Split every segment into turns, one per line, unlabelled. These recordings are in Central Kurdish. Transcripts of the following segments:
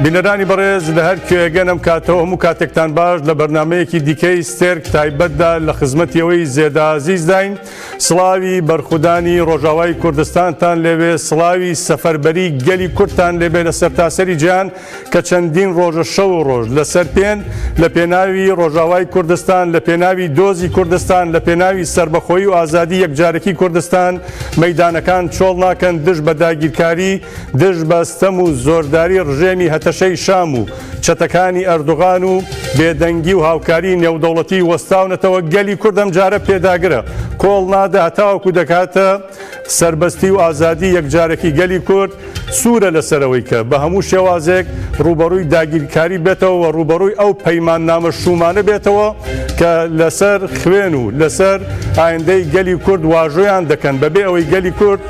بینەرانی بەڕێز لە هەر کوێگەنم کاتەوە هەموو کاتێکتان باش لە بەرنمەیەکی دیکەی ستێرک تایبەتدا لە خزمەتیەوەی زێدازیزداین سڵاوی بەرخودانی ڕۆژاوای کوردستانتان لەوێ سڵاوی سەفەربەری گەلی کورتان لەبێ لە سەرتاسەری جیان کە چەندین ڕۆژە شەو و ڕۆژ لە سەر پێن لە پێناوی ڕۆژاوای کوردستان، لە پێناوی دۆزی کوردستان، لە پێناوی سەربەخۆیی و ئازادی یەکجارەکی کوردستان مەیدانەکان چۆڵ ناکەن دژ بە داگیرکاری، دژ بە ستەم و زۆرداری ڕژێمی هەتەشەی شام و چەتەکانی ئەردوغان و بێدەنگی و هاوکاری نێودەوڵەتی وەستاونەتەوە گەلی کورد ئەمجارە پێداگرە کۆڵ نادە هەتاوەکو دەکاتە سەربەستی و ئازادی یەکجارەکی گەلی کورد سوورە لەسەرەوەی کە بە هەموو شێوازێک ڕووبەڕووی داگیرکاری بێتەوە و ڕووبەڕووی ئەو پەیماننامە شوومانە بێتەوە کە لەسەر خوێن و لەسەر ئایندەی گەلی کورد واژۆیان دەکەن بەبێ ئەوەی گەلی کورد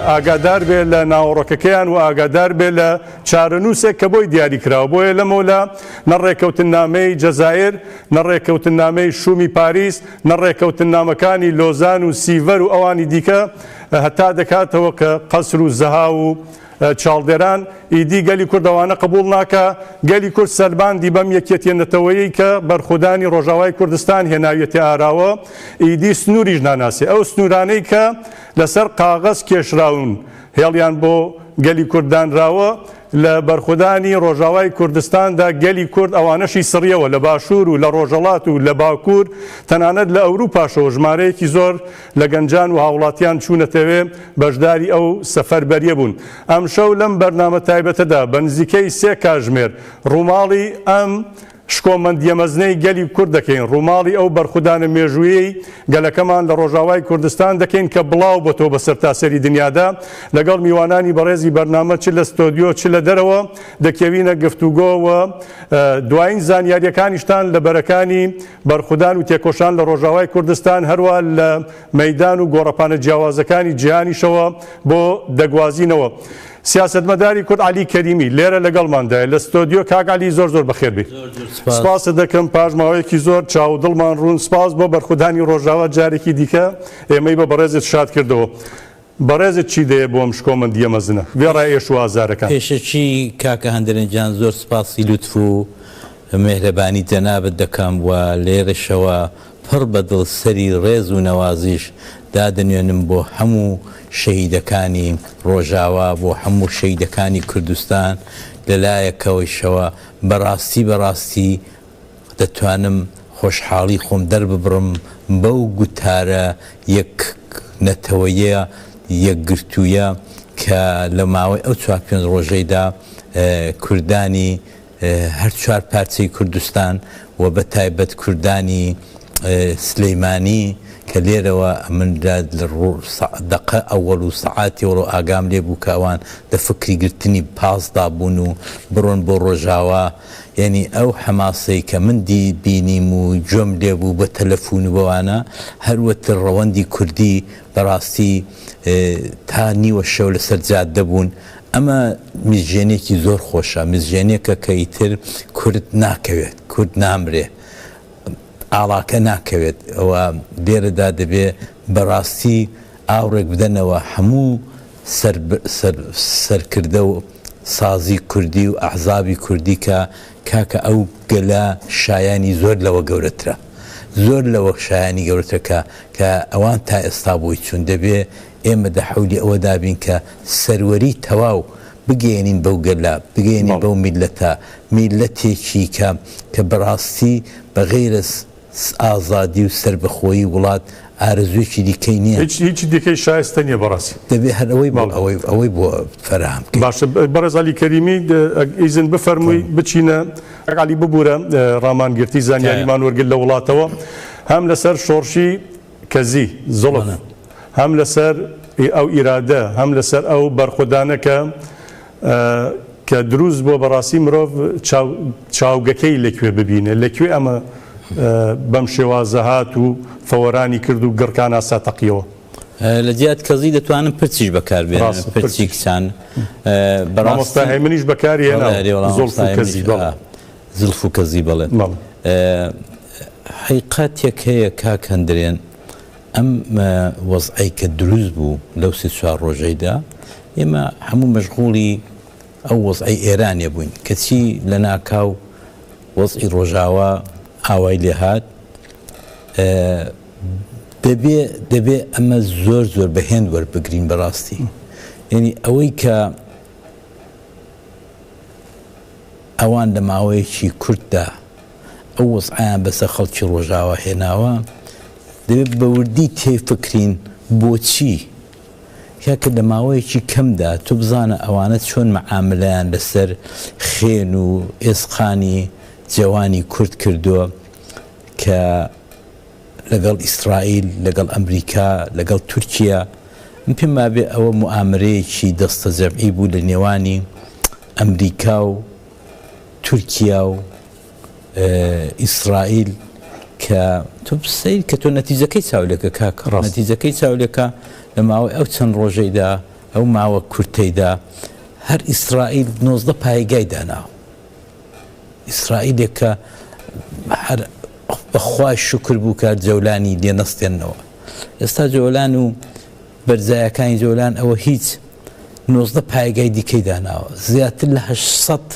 ئاگادار بێت لە ناوەڕۆکەکەیان و ئاگادار بێت لە چارەنووسێک کە بۆی دیاری کراوە بۆیە لەمەولا نە ڕێکەوتننامەی جەزائیر نە ڕێکەوتننامەی شوومی پاریس نە ڕێکەوتننامەکانی لۆزان و سیڤەر و ئەوانی دیکە هەتا دەکاتەوە کە قەسر و زەها و چاڵدێران ئیدی گەلی کورد ئەوانە قبوڵ ناکا، گەلی کورد سەلماندی بەم یەکیەتیە نەتەوەیەی کە بەرخودانی ڕۆژاوای کوردستان هێناویەتە ئاراوە ئیدی سنوریش ناناسێ ئەو سنورانەی کە لەسەر قاغەز کێشراون هێڵیان بۆ گەلی کورد دانراوە، لە بەرخودانی ڕۆژاوای کوردستاندا گەلی کورد ئەوانەشی سڕیەوە، لە باشوور و لە ڕۆژەڵات و لە باکوور، تەنانەت لە ئەوروپاشەوە ژمارەیەکی زۆر لە گەنجان وهاوڵاتیان چوونەتەوێ بەشداری ئەو سەفەربەریە بوون. ئەمشەو لەم بەرنامە تایبەتەدا بە نزیکەی سێ کاژمێر ڕووماڵی ئەم. شکۆمەندییە مەزنەی گەلی کورد دەکەین، ڕووماڵی ئەو بەرخودانە مێژوویەی گەلەکەمان لە ڕۆژاوای کوردستان دەکەین کە بڵاوبۆتەوە بە سەرتاسەری دنیادا، لەگەڵ میوانانی بەڕێزی بەرنامە چ لە ستۆدیۆ چ لە دەرەوە دەکێوینە گفتوگۆ و دواین زانیارییەکانیشتان لە بەرەکانی بەرخودان و تێکۆشان لە ڕۆژاوای کوردستان هەروا لە مەیدان و گۆڕەپانە جیاوازەکانی جیهانیشەوە بۆ دەگوازینەوە. سیاسەتمەداری کورد عەلی کەریمی لێرە لەگەڵماندایە لە ستۆدیۆ کاک عەلی زۆر زۆر بەخێر بێی سپاست دەکەم پاش ماوەیەکی زۆر چاو و دڵمان ڕوون سپاس بۆ بەرخودانی ڕۆژاوا جارێکی دیکە ئێمەی بە بەڕێزت شاد کردەوە بەڕێزت چی دەیە بۆ ئەم شکۆمەندیە مەزنە وێڕای ئێش و ئازارەکان. پێشەکی کاکە
هەندەرەن گیان زۆر سپاسی لوتف و مێهرەبانی جەنابت دەکەم و لێرەشەوە پڕ بە دڵ سەری ڕێز و نەوازیش دادەنوێنم بۆ هەموو شەهیدەکانی ڕۆژاوا، بۆ هەموو شەهیدەکانی کوردستان، لە لایەکەوەیشەوە بە ڕاستی بە ڕاستی دەتوانم خۆشحاڵی خۆم دەرببڕم بەو گوتارە یەک نەتەوەیە یەکگرتوویە کە لە ماوەی ئەو چوار پێنج ڕۆژەیدا کوردانی هەر چوار پارچەی کوردستان و بە تایبەت کوردانی سلیمانی کە لێرەوە من لە دەقە ئەوەڵ و سەعاتی وەڵۆ ئاگام لێ بوو کە ئەوان دە فکری گرتنی پاس دابوون و بڕۆن بۆ ڕۆژاوا یعنی ئەو حەماسەی کە من دی بینیم و گوێم لێ بوو بە تەلەفون و بەوانە هەروەتر ڕەوەندی کوردی بەڕاستی تا نیوە شەو لەسەر جادە بوون ئەمە مزژێنێکی زۆر خۆشە مزژێنێکە کە ئیتر کورد ناکەوێت کورد نامرێ ئاڵاکە ناکەوێت ئەوە لێرەدا دەبێ بەڕاستی ئاوڕێک بدەنەوە هەموو سەرکردە و سازی کوردی و ئەحزابی کوردی کە کاکە ئەو گەلە شایانی زۆر لەوە گەورەترە زۆر لەوە شایانی گەورەترەکە کە ئەوان تا ئێستا بۆی چون دەبێ ئێمە دە حەولی ئەوە دابین کە سەروەری تەواو بگەیەنین بەو گەلە، بگەیەنین بەو میللەتە، میللەتێکی کە کە بەڕاستی بە غەیرە ئازادی و سەربەخۆیی وڵات ئارەزوویەکی دیکەی نییە. هیچ هیچی دیکەی شایستە
نییە بەڕاستی. دەبێ هەر ئەوەی بەڵێ
ئەوەی ئەوەی بۆ فەراهەم بکەین. باشە بەڕێز
عەلی کەریمی ئەگ ئیزن بفەرمووی بچینە کاک عەلی ببوورە ڕامانگرتی زانیاریمان وەرگرت لە وڵاتەوە هەم لەسەر شۆڕشی کەزی، زوڵف، هەم لەسەر ی ئەو ئیرادە هەم لەسەر ئەو بەرخودانە کە کە دروست بووە بەڕاستی مرۆڤ چاو چاوگەکەی لە کوێ ببینێ لە کوێ ئەمە بەم شێوازە هات و فەوەرانی کرد و گڕکان ئاسا تەقیەوە. لە جیات
کەزی دەتوانن پرچیش بەکار بێنن ڕاستە پرچی کچان. ڕاستە.
مامۆستا هێمنیش بەکاری هێناوە زوڵف و کەزی بەڵێ.
زلف و کەزی بەڵێن. حیقەتێک هەیە کاک هەندرێن ئەم وەزعەی کە دروست بوو لەو سێ چوار ڕۆژەیدا ئێمە هەموو مەشغوڵی ئەو وەزعەی ئێرانێ بووین کەچی لە ناکاو وەزعی ڕۆژاوا ئاوای لێ هات دەبێ دەبێ ئەمە زۆر زۆر بە هێند وەربگرین بەڕاستی یعنی ئەوەی کە ئەوان لە ماوەیەکی کورتدا ئەو وەزعەیان بەسەر خەڵکی ڕۆژاوا هێناوە، دەبێت بە وردی تێفکرین بۆچی؟ کاکە لە ماوەیەکی کەمدا تۆ بزانە ئەوانە چۆن مەعاملەیان لەسەر خێن و ئێسقانی جەوانی کورد کردووە کە لەگەڵ ئیسرائیل، لەگەڵ ئەمریکا، لەگەڵ تورکیە، من پێم وابێ ئەوە موئامەرەیەکی دەستەجەمعی بوو لە نێوانی. ئەمریکا و تورکیا و ئیسرائیل کە تۆ سیر کە تۆ نەتیجەکەی چاولەکە کاک ڕاست نەتیجەکەی چاولەکە لە ماوەی ئەو چەند ڕۆژەیدا ئەو ماوە کورتەیدا هەر ئیسرائیل نۆزدە پایگای داناوە ئیسرائیلێکە هەر بەخوای شکر بوو کە جەولانی لێ نەستێنەوە ئێستا جۆلان و بەرزایەکانی جۆلان ئەوە هیچ نۆزدە پایگای دیکەی داناوە زیاتر لە هەشت سەد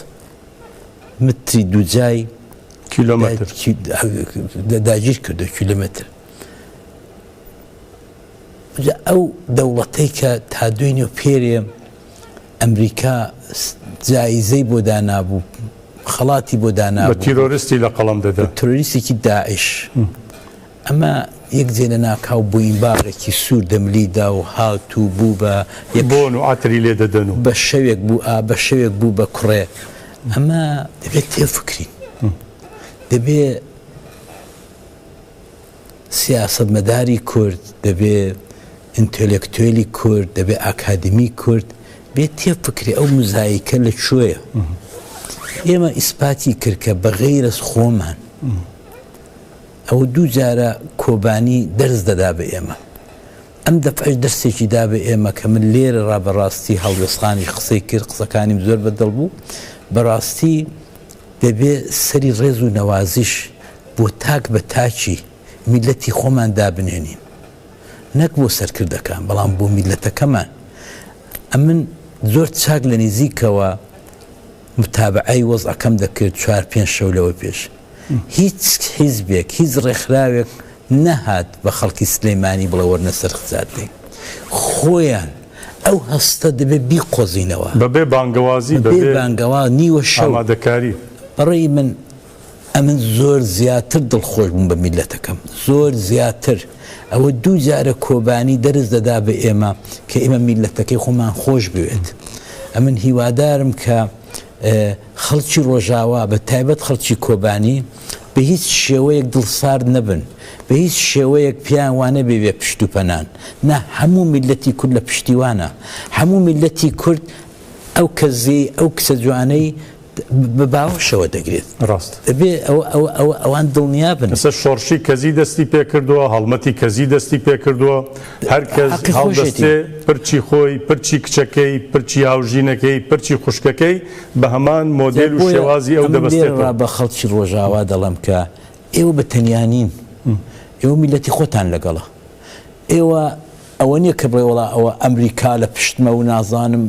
متری دووجای
کیلۆمەتر
داگیر کردو کیلومتر ئەو دەوڵەتەی کە تا دوێنێ و پێرێ ئەمریکا جایزەی بۆ دانابوو خەڵاتی بۆ دانا تیرۆریستی لە قەڵم
دەدا تروریستێکی داعش
ئەمە یەک جێ لە ناکاو بۆینباغێکی سوور دەملی دا و هات و بوو بە یەک. بۆن و عەتری
لێ دەدەن و. بە شەوێک بوو ئا
بە شەوێک بوو بە کوڕێ. ئەمە دەبێ تێفکرین. دەبێ سیاسەتمەداری کورد، دەبێ ئینتێلێکتوێلی کورد، دەبێ ئاکادمی کورد بێ تێفکرێ ئەو مزایکە لە کوێیە. ئێمە ئیسپاتی کرد کە بە غەیرەز خۆمان. ئەو دوو جارە کۆبانی دەرس دەدا بە ئێمە. ئەم دەفعەش دەرسێکی دا بە ئێمە کە من لێرە ڕا بە ڕاستی هەڵوێستخانیش قسەی کرد، قسەکانیم زۆر بە دڵ بوو. بە ڕاستی دەبێ سەری ڕێز و نەوازیش بۆ تاک بە تاکی میللەتی خۆمان دابنێنین. نەک بۆ سەرکردەکان، بەڵام بۆ میللەتەکەمان. ئەمن زۆر چاک لە نیزیکەوە. متابەعەی وەزعەکەم دەکرد چوار پێنج شەو لەوە پێش هیچ حیزبێک هیچ ڕێکخراوێک نەهات بە خەڵکی سلێمانی بڵێ وەرنە سەر خزاردەی خۆیان ئەو هەستە دەبێ بیقۆزینەوە بەبێ بانگەوازی
بەبێ بانگەواز
نیوە شەو ئامادەکاری.
بەڕێی من
ئەمن زۆر زیاتر دڵخۆش بووم بە میللەتەکەم، زۆر زیاتر، ئەوە دوو جارە کۆبانی دەرس دەدا بە ئێمە کە ئێمە میللەتەکەی خۆمان خۆش بوێت. ئەمن هیوادارم کە خەڵکی ڕۆژاوا بە تایبەت خەڵکی کۆبانی بە هیچ شێوەیەک دڵسارد نەبن، بە هیچ شێوەیەک پێیان وانەبێ پشت و پەنان، نا، هەموو میللەتی کورد لە پشتیوانە، هەموو میللەتی کورد ئەو کەزیەی، ئەو کچە جوانەی، بە باوەشەوە دەگرێت. ڕاست. دەبێ ئەوان دڵنیا بن. ئێستا شۆڕشی کەزی
دەستی پێ کردووە، هەڵمەتی کەزی دەستی پێ کردووە. هەر کەس هەڵدەستێ پرچی خۆی، پرچی کچەکەی، پرچی هاوژینەکەی، پرچی خوشکەکەی بە هەمان مۆدێل و شێوازی ئەو دەبەستێتەوە. بۆیە من لێرەوە بە خەڵکی ڕۆژاوا
دەڵێم کە ئێوە بە تەنیا نین. ئێوە میللەتی خۆتان لەگەڵە. ئێوە ئەوە نیە کە بڵێ وەڵا ئەوە ئەمریکا لە پشتمە و نازانم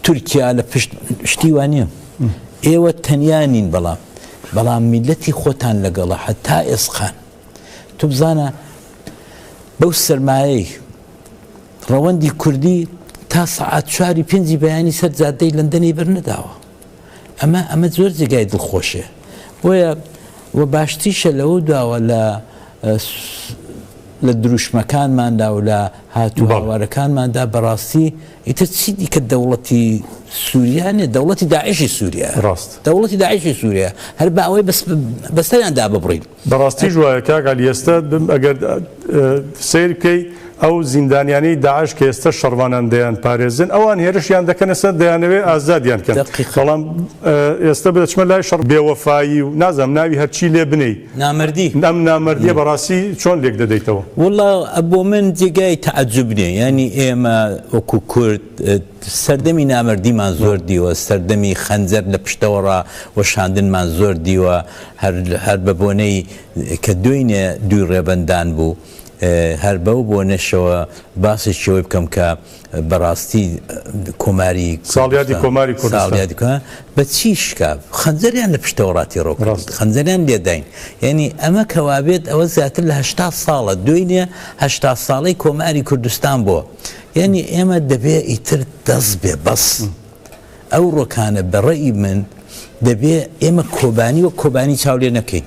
تورکیا لە پشت شتی وانە ئێوە تەنیا نین بەڵام بەڵام میلەتی خۆتان لەگەڵە هەتا ئێسقان تو بزانە بەو سرمایەی ڕەوەندی کوردی تا سەعات چواری پێنجی بەیانی سەر جادەی لەندەنی بەرنەداوە ئەمە ئەمە زۆر جێگای دڵخۆشێ بۆیە وە باشتیشە لەوە دواوە لە لە دروشمەکانماندا و لە هاتوو باوارەکانماندا بەڕاستی ئیتر چی دیکە دەوڵەتی سووریانێ دەوڵەتی داعشی سووریا ڕاست دەوڵەتی
داعشی سووریا
هەر باوەی بەستەیان دا ببڕین بەڕاستیش وایە کاک
عەلی ئێستە ئەگەر سەیر بکەی ئەو زیندانیانەی داعش کە ئێستە شەڕڤانان دەیان پارێزن ئەوان هێرشیان دەکەنە سەر دەیانەوێ ئازادیان کەن بەڵام ئێستە بدەچمە لای شەڕ بێوەفایی و نازم ناوی هەرچی لێ بنێی نامردی ئەم
نامردیە
بەڕاستی چۆن لێک دەدەیتەوە وڵا بۆ
من جێگای تەعجب نیە ینی ئێمە وەکو کورد سەردەمی نامەردیمان زۆر دیوە، سەردەمی خەنجەر لە پشتەوەڕا وەشاندنمان زۆر دیوە، هەر بە بۆنەی کە دۆینێ دووی ڕێبەندان بوو، هەر بەو بۆنەشەوە باسێکی ئەوەی بکەم کە بە ڕاستی کۆماری ساڵیادی کۆماری
کوردستان بە چی شکا؟
خەنجەریان لە پشتەوە ڕاتی ڕۆ ڕاست خەنجەریان لێداین یعنی ئەمە کەوابێت ئەوە زیاتر لە هەشتا ساڵە دۆینێ هەشتا ساڵەی کۆماری کوردستان بۆ. یعنی ئێمە دەبێ ئیتر دەست بێ بەس ئەو ڕۆکانە بەڕێی من دەبێ ئێمە کۆبانی و کۆبانی چاولێ نەکەین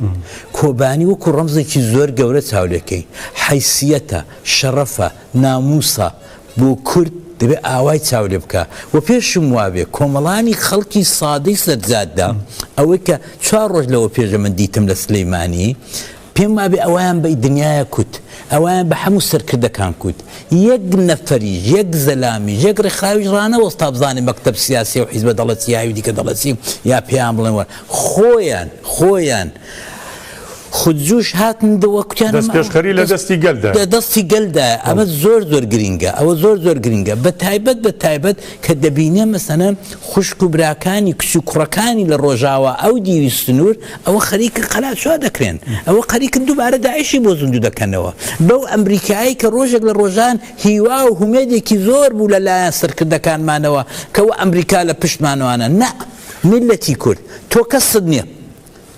کۆبانی وەکو ڕەمزێکی زۆر گەورە چاولەکەی حیسیەتە شەڕەفە ناموسا بۆ کورد دەبێ ئاوای چاولێ بکە و پێشم وابێ کۆمەڵانی خەڵکی سادەی سەرجاددا ئەوەی کە چوار ڕۆژ لەوە پێشە من دیتم لە سلەیمانی پێم وابێ ئەوەیان بەی دنیایە کوت، ئەوەیان بە حەموو سەرکردەکان کوت، یەک نەفەریش، یەک زەلامیش، یەک ڕێکخراویش ڕانەوەست تا بزانێ مەکتەب سیاسیە و حیزبە دەڵێ چی یاوی دیکە دەڵێ چی یا پێیان بڵێن وەر خۆیان، خۆیان خود جوش هاتن و کوتیان ئەمە، دەستپێشخەری لە دەستی
گەل دایە. لە دەستی گەل دایە، ئەمە
زۆر زۆر گرینگە، ئەوە زۆر زۆر گرینگە، بە تایبەت بە تایبەت کە دەبینێ مەسەنەن خوشک و براکانی، کچ و کوڕەکانی لە ڕۆژاوا ئەو دیوی سنوور ئەوە خەریکن قەلاچۆ دەکرێن، ئەوە قەریکن دووبارە داعشی بۆ زیندوو دەکەنەوە، بەو ئەمریکایەی کە ڕۆژێک لە ڕۆژان هیوا و هومێدێکی زۆر بوو لە لایەن سەرکردەکانمانەوە کە وە ئەمریکا لە پشتمانانە، نا، میللەتی کورد، تۆ کەست نیە،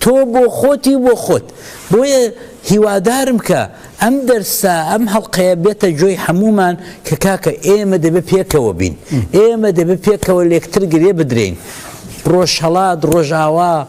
تۆ بۆ خۆتی و بۆ خۆت، بۆیە هیوادارم کە ئەم دەرسە، ئەم هەڵقەیە بێتە جۆی هەموومان کە کاکە ئێمە دەبێ پێکەوە بین، ئێمە دەبێ پێکەوە لێکتر گرێ بدرێین، ڕۆژهەڵات، ڕۆژاوا،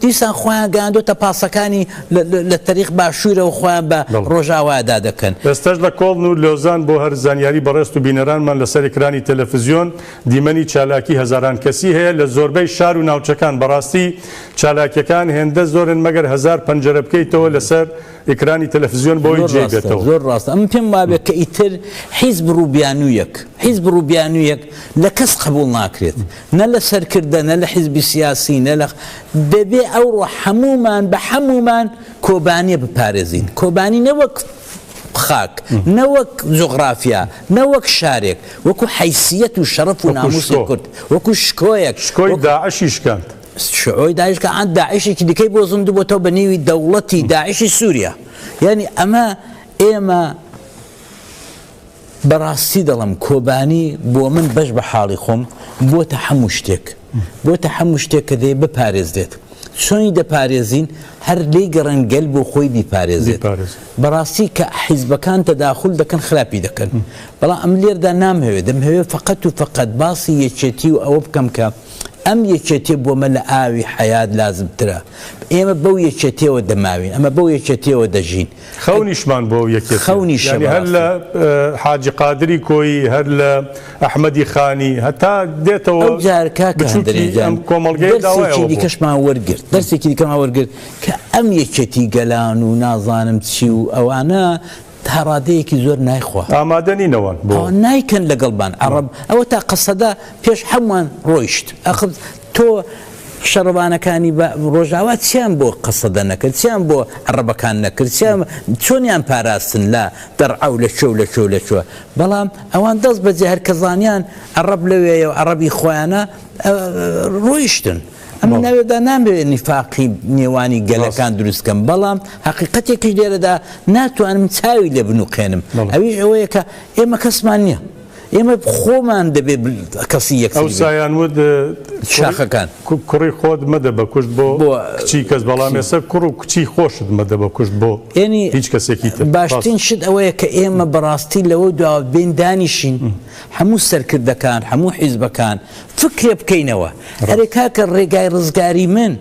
دیسان خۆیان گەیاندۆتە پاسەکانی لە تەریق باشوورەوە خۆیان بە ڕۆژاوادا دەکەن. ئێستەش لە کۆڵن و
لۆزان بۆ هەر زانیاری بەڕێزت و بینەرانمان لەسەر ئێکرانی تەلەفزیۆن دیمەنی چالاکی هەزاران کەسی هەیە لە زۆربەی شار و ناوچەکان بەڕاستی چالاکیەکان هێندە زۆرن مەگەر هەزار پەنجەرە بکەیتەوە لەسەر ئێکرانی تەلەفزیۆن بۆی جێی بێتەوە. زۆر ڕاستە ئەمن پێم
وابێت کە ئیتر حیزب ڕوو بیانوویەک حیزب ڕوو بیانوویەک لە کەس قەبووڵ ناکرێت. نە لە سەرکردە نە لە حیزبی سیاسی نە لە دەبێ ئەوڕۆ حەمومان بە حەمومان کۆبانیە بپارێزین کۆبانی نەوەک خاک نەوەک جغرافیا نەوەک شارێک وەکو حیسیەت و شەرف و ناموسی کورد وەکو شکۆیەک شکۆی
داعشی شکاند شعۆی داعشکە
ئەند داعشێکی دیکەی بۆ زند بۆتەوە بە نێوی دەوڵەتی داعشی سووریا یعنی ئەمە ئێمە بەڕاستی دەڵێم کۆبانی بۆ من بەش بە حاڵی خۆم بۆتە حەموو شتێک بۆتە حەموو شتێک کە دەیە بپارێزرێت چۆنی دەپارێزین هەر لی گەڕێن گەل بۆ خۆی بیپارێزێت بەڕاستی کە حیزبەکان تەداخل دەکەن خراپی دەکەن بەڵام ئەم لێردا نامهەوێت دەمهەوێت فقەت و فقەت باسی یەکێتی و ئەوە بکەم کە ئەم یەکێتێ بۆمە لە ئاوی حیات لازمترە ئێمە بەو یەکێتەوە دەماوین ئەمە بەو یەکێتەوە دەژین خەونیشمان بۆ
یەکێتی خەونی شەباب یانی هەر لە حاجی قادری کۆیی هەر لە ئەحمەدی خانی هەتا دێتەوە ئەو جار کاکە
هەندرێن جان
کۆمەڵگەی داوایەوە بۆ دیکەشمان
وەرگرت دەرسێکی دیکەمان وەرگرت کە ئەم یەکێتی گەلان و نازانم چی و ئەوانە تا ڕادەیەکی زۆر نایخوا ئامادەنی نەوان بۆ
نایکەن لەگەڵبان
عرب ئەوە تا قسەدا پێش هەمووان ڕۆیشت ئەخب تۆ شەڕڤانەکانی بە ڕۆژاوا چیان بۆ قەسەدە نەکرد چیان بۆ عەڕەبەکان نەکرد چیان چۆنیان پاراستن لە دەڕعە و لە کوێ و لە کوێ و لە کوێ بەڵام ئەوان دەست بەجێ هەر کە زانیان عەڕەب لەوێیە و عەڕەبی خۆیانە ڕۆیشتن ئەمە ناوێدا نامەوێت نیفاقی نێوانی گەلەکان دروست کەم بەڵام حقیقەتێکیش لێرەدا ناتوانم چاوی لێ بنوقێنم ئەویش ئەوەیە کە ئێمە کەسمان نییە ئێمە خۆمان دەبێ کەسی یەکتری بین. ئەوسایان وت،
شاخەکان.
کوڕی خۆت
مەدە بە کوشت بۆ کچی کەس، بەڵام ئێستا کوڕ و کچی خۆشت مەدە بە کوشت بۆ هیچ کەسێکی تر. باشترین شت ئەوەیە کە
ئێمە بەڕاستی لەوە دواوە بێین دانیشین، هەموو سەرکردەکان، هەموو حیزبەکان فکرێ بکەینەوە. ئەرێ کاکە ڕێگای ڕزگاری من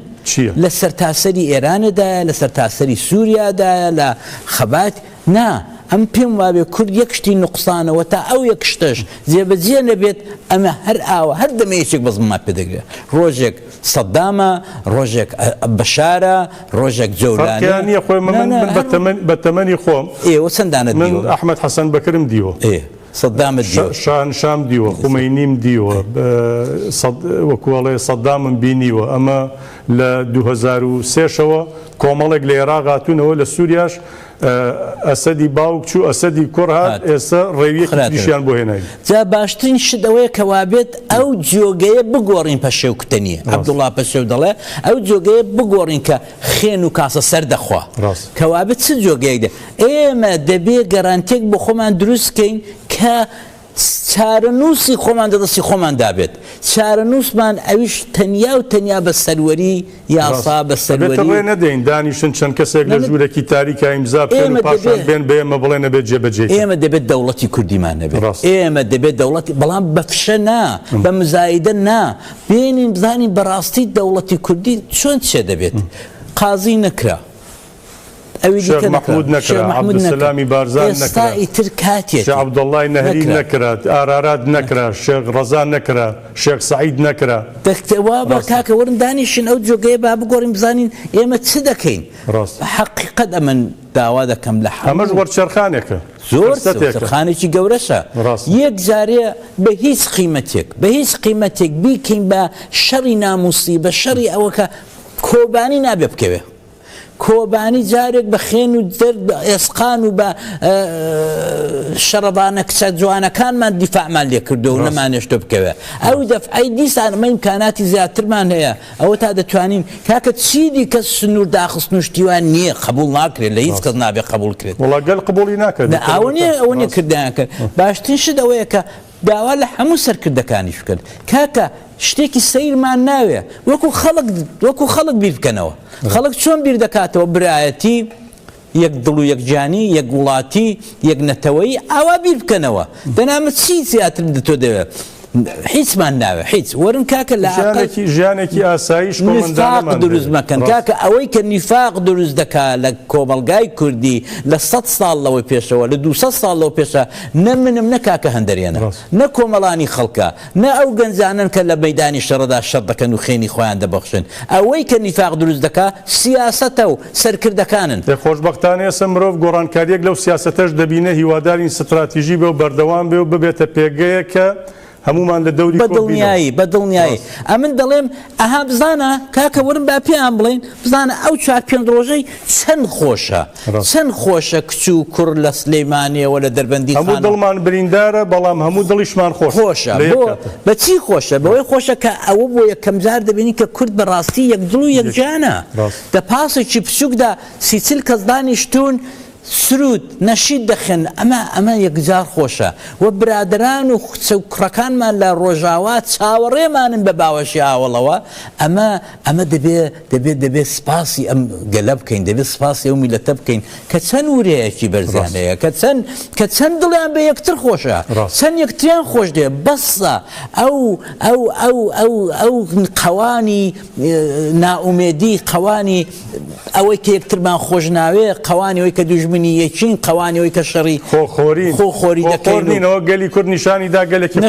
لە سەرتاسەری ئێرانەدایە، لە سەرتاسەری سووریادایە، لە خەبات. نا، ئەم پێم وابێ کورد یەک شتی نوقسانە وە تا ئەو یەک شتەش جێ بە جێ نەبێت ئەمە هەر ئاوا هەر دەمێکێک بەس ماف پێ دەگرێت ڕۆژێک سەدامە ڕۆژێک بەشارە ڕۆژێک جەولانە فەرقیان نیە خۆی من من من بە
تەمەن بە تەمەنی
خۆم
ئێوە چەندانت من دیوە ئەحمەد حەسەن
بەکرم دیوە
ئێ
سەدامت شا- دیوە شاهنشام دیوە
خومەینیم دیوە بە- سەد- وەکوەڵێ سەدامم بینیوە ئەمە لە دوو هەزار و سێ شەوە کۆمەڵێک لە ئێراق هاتوونەوە لە سوریاش ئەسەدی باوک چوو ئەسەدی کوڕ هات ئێستا ڕێویەکی تریشیان بۆ هێناوی. جا باشترین
شت ئەوەیە کە وابێت ئەو جۆگەیە بگۆڕین پەشێو کوتە نییە عەبدوڵڵا پەشێو دەڵێ ئەو جۆگەیە بگۆڕین کە خێن و کاسە سەر دەخوا کە وابێت چ جۆگەیەک دێ ئێمە دەبێ گەرانتێک بۆ خۆمان دروست کەین کە چارەنووسی خۆمان دە دەستی خۆمان دابێت چارەنووسمان ئەویش تەنیا و تەنیا بە سەروەری یاسا بە سەروەری ڕێ نەدەین دانیشن
چەند کەسێک لە ژوورێکی تاریکا ئیمزا بکەن و پاشان بێن بێمە بڵێ نەبێت جێبەجێ ئێمە دەبێت دەوڵەتی
کوردیمان نەبێت ئێمە دەبێت دەوڵەتی بەڵام بە فشە نا بە مزایدە نا بێنین بزانین بەڕاستی دەوڵەتی کوردی چۆن چێ دەبێت قازی نەکرا ئەوی
شێخ دیکە مەحمود نەکرا، شێخ نەکرا، مەحمود نەکرا، عەبدولسەلامی بارزان ئێستا نەکرا، ئیتر کاتیەتی شێخ
عەبدوڵڵای نەهری
نەکرا. نەکرا، ئارارات نەکرا، شێخ ڕەزا نەکرا، شێخ سەعید نەکرا. دەکتێ وابە ڕاستە.
کاکە وەرن دانیشن ئەو جۆگەیە با بگۆڕین بزانین ئێمە چ دەکەین ڕاستە. بە حەقیقەت ئەمن داوا دەکەم لە ئەمەش هەموو وەرچەرخانێکە
زۆر فرسەتێکە
وەرچەرخانێکی گەورەشە ڕاستە. یەک جارێ بە هیچ قیمەتێک بە هیچ قیمەتێک بیکەین بە شەڕی نامووسی بە شەڕی ئەوە کە کۆبانی نابێ بکەوێ. کۆبانی جارێک بە خێن و دەرد ئێسقان و بە شەڕەبانە کچە جوانەکانمان دیفاعمان لێکردو و نەمانێشتۆ بکەوێ ئەو دەفعی دیسان مە امکاناتی زیاترمان هەیە ئەوە تا دەتوانین کاکە چی دیکە سنوور داخست نوشتیوان نییە قبول ناکرێت لە هیچ کەس نابێ قبول کرێت وڵگەل قبولی ناکرێت
ئەوە نیە ئەوە نیە
کردیان کرد باشترین شت ئەوەیە کە داوا لە هەموو سەرکردەکانیش بکەن، کاکە شتێکی سەیرمان ناوێ، وەکو خەڵک وەکو خەڵک بیر بکەنەوە. خەڵک چۆن بیر دەکاتەوە برایەتی، یەک دڵ و یەک جانی، یەک وڵاتی، یەک نەتەوەیی، ئاوا بیر بکەنەوە. دەنا من چی زیاتر لە تۆ دەوێ؟ هیچمان ناوێ، هیچ. وەرن کاکە لە ئاقل
نیفاق دروست
مەکەن. کاکە ئەوەی کە نیفاق دروست دەکا لە کۆمەڵگای کوردی لە سەد ساڵ لەوەی پێشەوە، لە دوو سەد ساڵ لەوە پێشە، نە منم نە کاکە هەندەرێنە، نە کۆمەڵانی خەڵکە، نە ئەو گەنجانەن کە لە مەیدانی شەڕدا شەڕ دەکەن و خوێنی خۆیان دەبەخشن، ئەوەی کە نیفاق دروست دەکا سیاسەتە و سەرکردەکانن. ئێ خۆشبەختانە ئێسە
مرۆڤ گۆڕانکاریەک لەو سیاسەتەش دەبینێ، هیوادارین ستراتیژی بێ و بەردەوام بێ و ببێتە پێگەیەک کە هەموومان لە دەوری کۆک بینەوە. بە دڵنیایی، بە دڵنیایی.
ئەمن دەڵێم، ئەها بزانە، کاکە وەرن با پێیان بڵێین، بزانە ئەو چوار پێنج ڕۆژەی چەند خۆشە، چەند خۆشە کچ و کوڕ لە سلێمانییەوە لە دەربەندیخانەوە. هەموو دڵمان بریندارە،
بەڵام هەموو دڵیشمان خۆشە. خۆشە. بۆ؟ بە چی
خۆشە؟ بەوەی خۆشە کە ئەوە بۆ یەکەم جار دەبینین کە کورد بە ڕاستی یەک دڵ و یەک گیانە. لە پاسێکی بچووکدا سی چل کەس دانیشتوون، سرود، نەشید دەخوێن، ئەمە ئەمە یەکجار خۆشە و برادەران و کچە و کوڕەکانمان لە ڕۆژاوا چاوەڕێمانن بە باوەشی هاوەڵەوە، ئەمە ئەمە دەبێ دەبێ دەبێ سپاسی ئەم گەلە بکەین، دەبێ سپاسی ئەو میللەتە بکەین کە چەند ورەیەکی بەرزیان هەیە، کە چەند کە چەند دڵیان بە یەکتر خۆشە، چەند یەکتریان خۆش دەوێ، بەسە ئەو ئەو ئەو ئەو ئەو قەوانی نائومێدی، قەوانی. ئەوەی کە یەکترمان خۆش ناوێ قەوانی ئەوی کە دوژمنی یەکین قەوانی ئەوی کە شەڕی خۆخۆری خۆ خۆری دەکەینەوە
گەلی کورد نیشانی دا گەلێکی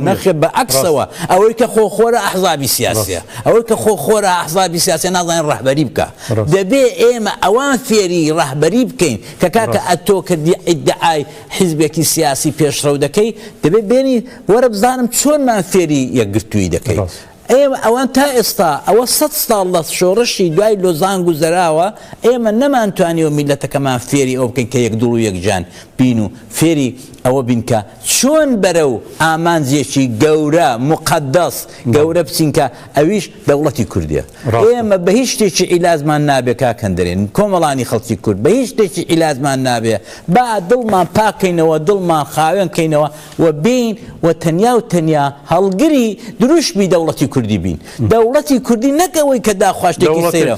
نەخێ بە
عکسەوە ئەوەی کە خۆ خۆرە ئەحزابی سیاسە ئەوەی کە خۆ خۆرە ئەحزابی سیاسە نازانین ڕەهبەری بکە دەبێ ئێمە ئەوان فێری ڕەهبەری بکەین کە کاکە ئەتۆ کردی ئیدعای حیزبێکی سیاسی پێشڕەو دەکەی دەبێت بێنی وەرە بزانم چۆنمان فێری یەکگرتووی دەکەیت ئێمە ئەوان تا ئێستا ئەوە سەد ساڵ لە شۆڕشی دوای لۆزان گوزەراوە ئێمە نەمانتوانیوە میللەتەکەمان فێری ئەوە بکەین کە یەک دڵ و یەک جان بین و فێری ئەوە بین کە چۆن بەرەو ئامانجێکی گەورە موقەدەس گەورە بچین کە ئەویش دەوڵەتی کوردیە ئێمە بە هیچ شتێکی عیلازمان نابێ کاک هەندرێن کۆمەڵانی خەڵکی کورد بە هیچ شتێکی عیلازمان نابێ با دڵمان پاکەینەوە دڵمان خاوێن کەینەوە و بین و تەنیا و تەنیا هەڵگری دروشمی دەوڵەتی کوردی بین. دەوڵەتی کوردی نەک ئەوەی کە داخواشتێکی سەیرە.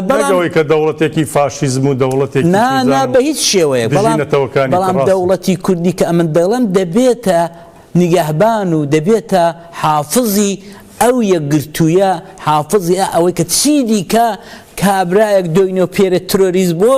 نەک ئەوەی کە
دەوڵەتێکی فاشیزم و دەوڵەتێکی چووزان و دژی نەتەوەکانی تڕاست. نا، نا بە هیچ
شێوەیەک. بەڵام، بەڵام دەوڵەتی کوردی کە ئەمن دەڵێم دەبێتە نیگەهبان و دەبێتە حافزی ئەو یەکگرتوویە، حافزی ئە ئەوەی کە چیدیکە کابرایەک دۆینۆ پێرێ ترۆریست بۆ،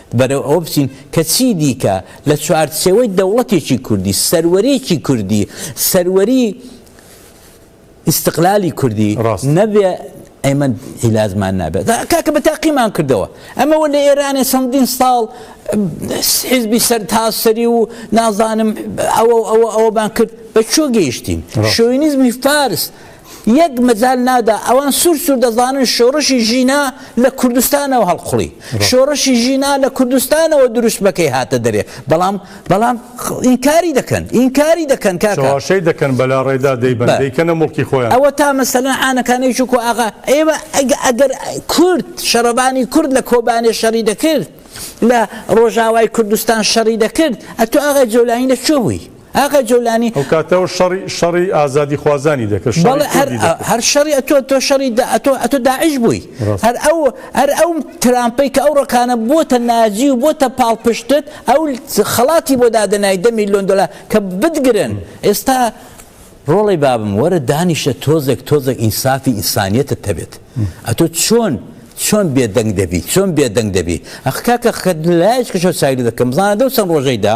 بەرەو ئەوە بچین کە چی دیکە لە چوارچێوەی دەوڵەتێکی کوردی، سەروەریی کوردی، سەروەریی ئیستقلالی کوردی ڕاست. نەبێ، ئێمە عیلاجمان نابێت. دا کاکە بە تاقیمان کردەوە. ئەمەوە لە ئێرانێ چەندین ساڵ حیزبی سەرتاسەری و نازانم ئەوە و ئەوە ئەوەمان کرد، بە کوێ گەیشتین؟ ڕاست. شۆوینیزمی فارس، یەک مەجال نادا ئەوان سور سور دەزانن شۆڕشی ژینا لە کوردستانەوە هەڵقوڵی شۆڕشی ژینا لە کوردستانەوە دروشمەکەی هاتە دەرێ بەڵام بەڵام ئینکاری دەکەن ئینکاری دەکەن کاکە چاوەشەی دەکەن
بەلا ڕێدا دەیبەن دەیکەنە مڵکی خۆیان ئەوە تا مەسەلەن
عانەکانەی چووک و ئاغا ئێوە ئەگە ئەگەر کورد شەڕەبانی کورد لە کۆبانێ شەڕی دەکرد لە ڕۆژاوای کوردستان شەڕی دەکرد ئەتو ئاغای جۆلانی لە کوێ بووی ئاغای جۆلانی. ئەو کاتە و شەڕی
شەڕی ئازادی خوازانی دەکرد شەڕی کوردی دەکرد. بەڵێ هەر هەر
شەڕی ئەتۆ تۆ شەڕی دا ئەتۆ ئەتۆ داعش بووی هەر ئەو هەر ئەو ترامپەی کە ئەو ڕەقانە بۆتە نازی و بۆتە پاڵپشتت ئەو خەڵاتی بۆ دادەنای دە میلۆن دۆلا کە بتگرن ئێستا ڕۆڵی بابم وەرە دانیشە تۆزێک تۆزێک ئینسافی ئینسانیەتە تەبێت ئەتۆ چۆن چۆن بێدەنگ دەبی چۆن بێدەنگ دەبی ئەخکاکە خەت لایش کەشە سایل دەکەم بزانە دەو چەند ڕۆژەیدا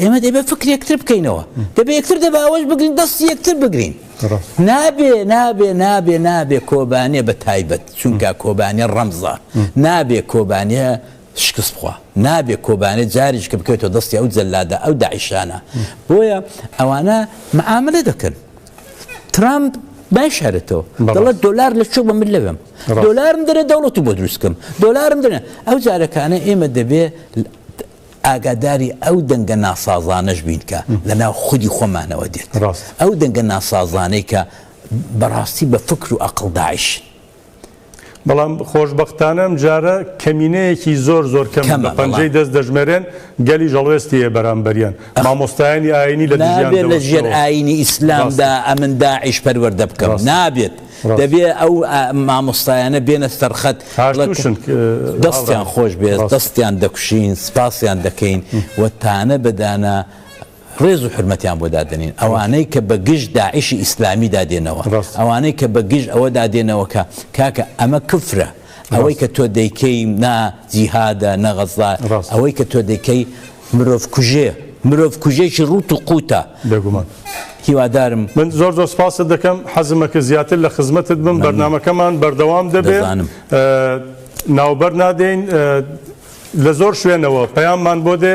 ئێمە دەبێت فکر یەکتر بکەینەوە دەبێ یەکتر دەبێ ئەوەش بگرین دەستی یەکتر بگرین نابێ نابێ نابێ نابێ کۆبانێ بە تایبەت چونکە کۆبانێ ڕەمزە نابێ کۆبانێ شکست بخوا نابێ کۆبانێ جاریش کە بکەێتەوە دەستی ئەو جەلادە ئەو داعیشانە بۆیە ئەوانە معاملە دەکەن ترامپ باشارێتەوە دەڵێت دلار لە چۆ بە من لەوێم دلارم دەێ دەوڵەتی بۆ دروستکەم دلارم دەێ ئەو جارەکانە ئێمە دەبێ ئاگاداری ئەو دەنگە ناسازانەش بین کە لە ناو خودی خۆمانەوە دێت. ئەو دەنگە ناسازانەی کە بەڕاستی بە فکر و ئەقڵ داعشن.
بەڵام خۆشبەختانە ئەم جارە کەمینەیەکی زۆر زۆر کەمن، بە پەنجەی دەست دەژمێرێن، گەلیش هەڵوێستی هەیە بەرامبەریان. مامۆستایانی ئایینی لە دژیان دەوەستنەوە. نابێت لە ژێر
ئایینی ئیسلامدا ئەمن داعش پەروەردە بکەم. نابێت. دەبێ ئەو مامۆستایانە بێنە سەرخەت دەستیان خۆش بێ دەستیان دەکوشین سپاسیان دەکەین و تانە بەدانە ڕێز و حرمەتیان بۆ دادنین ئەوانەی کە بە گشت داعیشی ئیسلامی دادێنەوە ئەوانەی کە بە گشت ئەوە دادێنەوە کە کاکە ئەمە کفرە ئەوەی کە تۆ دەیکەی نا جیهادە نە غەزا ئەوەی کە تۆ دەیکەی مرۆڤ کوژێ مرۆڤ کوژێکی ڕوت و قوتە بێگومان
هیوادارم
من زۆر زۆر
سپاست دەکەم حەزمە کە زیاتر لە خزمەتت بم بەرنمەکەمان بەردەوام دەبێت ناوبەر نادەین لە زۆر شوێنەوە پەیاممان بۆ دێ